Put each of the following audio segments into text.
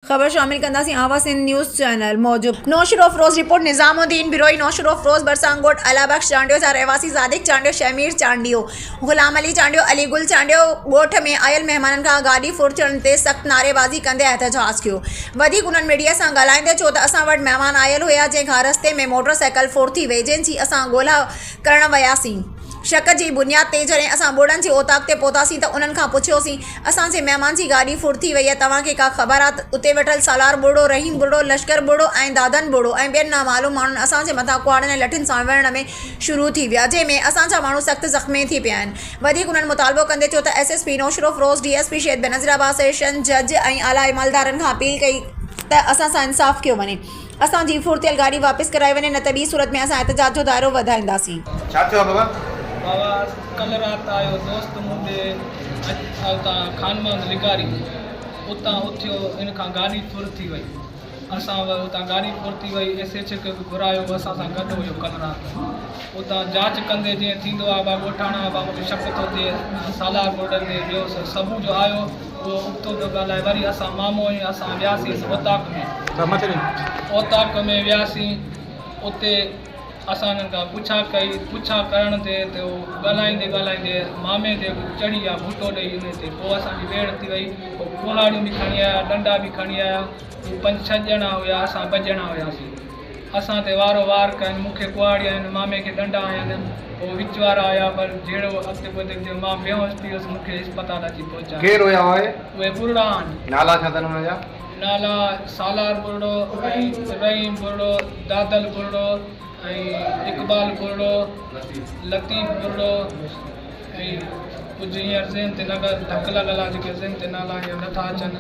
خبر شامل ڪنداسين آواز سنڌ نيوز چينل موجب. نوشھروفروز، رپورٽ، نظام الدين بروھي، نوشھروفروز ڀرسان ڳوٺ الله بخش چانڊيو جا رھواسي صادق چانڊيو، شھمير چانڊيو، غلام علي چانڊيو، علي گل چانڊيو ڳوٺ ۾ آيل مھمانن کان گاڏي ڦر ٿيڻ تي سخت نعريبازي ڪندي احتجاج ڪيو. وڌيڪ انھن ميڊيا سان ڳالھائيندي چيو ته اسان وٽ مھمان آيل ھيا جنھن کان رستي ۾ موٽر سائيڪل ڦر ٿي وئي جنھن جي اسان ڳولھا ڪرڻ وياسين. شڪ جي بنياد تي جڏهن اسان ٻوڙن جي اوطاق تي پهتاسين ته انهن کان پڇيوسين، اسان جي مهمان جي گاڏي ڦڙ ٿي وئي آهي، توهان کي ڪا خبر آهي؟ اتي ويٺل سالار ٻوڙو، رحيم ٻوڙو، لشڪر ٻوڙو ۽ دادن ٻوڙو ۽ ٻين نامعلوم ماڻهن اسان جي مٿان ڪهاڙن ۽ لٺين سان وڙهڻ ۾ شروع ٿي ويا، جنهن ۾ اسان جا ماڻهو سخت زخمي ٿي پيا آهن. وڌيڪ انهن مطالبو ڪندي چيو ته S S P Naushahro Feroze, D S P شيد بينظيرعباس، session جج ۽ اعليٰ عملدارن کان اپيل ڪئي ته اسان سان انصاف ڪيو وڃي. اسان جي ڦرتيل گاڏي واپس ڪرائي وڃي نه ته ٻي صورت ۾ اسان احتجاج جو دائرو وڌائينداسين. ڇا ٿيو آ بابا؟ بابا ڪلهه رات آيو دوست مون ڏي اڄ اتان خانماند لغاري اتان اٿيو ان کان گاڏي ڦر ٿي وئي اسان وئي اتان گاڏي ڦر ٿي وئي ايس ايڇ او کي به گهرايو هو اسان سان گڏ هيو ڪلهه رات اتان جاچ ڪندي جئين ٿيندو آ با ڳوٺاڻا با مون کي شڪ ٿو ٿئي سالار گولڊن تي ٻيو سبو جو آيو اهو اڪتو ٿو ڳالهائي. وري اسان مامو ۽ اسان وياسينس اوطاق ۾. اوطاق ۾ وياسين. اتي اسان انهن کان پڇا ڪئي. پڇا ڪرڻ تي ته اهو ڳالهائيندي ڳالهائيندي مامي تي چڙهي ويا ڀٽو ڏئي انهي تي. پوء اسان جي ويڙهه ٿي وئي. هو ڪهاڙيون به کڻي آيا، ڏنڊا به کڻي آيا. هو پنج ڇهه ڄڻا هيا. اسان ٻه ڄڻا هياسين. اسان تي وارو وار ڪن، مون کي ڪهاڙي هنن، مامي کي ڏنڊا هنن، هو وچ وارا هيا، پر جهڙو اڳتي پوئتي ٿيو، مان بيهوش ٿي ويس، مون کي اسپتال اچي پهچايو. ڪير هيا اهي؟ اهي ٻرڙا آهن. نالا ڇا اٿن انهن جا؟ نالا سالار ٻرڙو ۽ رحيم ٻرڙو، دادل ٻرڙو ۽ اقبال ٻرڙو، لطيف ٻرڙو ۽ ڪجهه هينئر ذهن تي نگر ڌڪ لڳل آهي، جيڪي ذهن تي نالا هينئر نٿا اچن.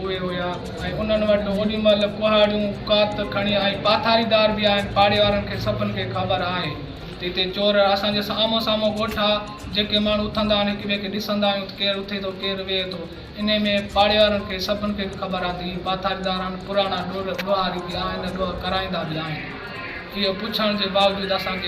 اهي هيا ۽ انهن وٽ اوڏي مهل ڪهاڙيون، ڪات کڻي ۽ پاٿاريدار به آهن. پاڙي وارن کي سڀن کي خبر آهي ته هتي چور اسان جي آمهون سامهون ڳوٺ آ. جيڪي ماڻهو اٿندا آهن هڪ ٻئي کي ڏسندا آهيون ته ڪير اٿي ٿو ڪير ويهي ٿو. انهيء ۾ پاڙي وارن کي سڀن کي خبر آ ته هي پاٿاريدار آهن پراڻا ڏوهاري به آهن ۽ ڏوهه ڪرائيندا به آهن. اهو پڇڻ جي باوجود اسان کي.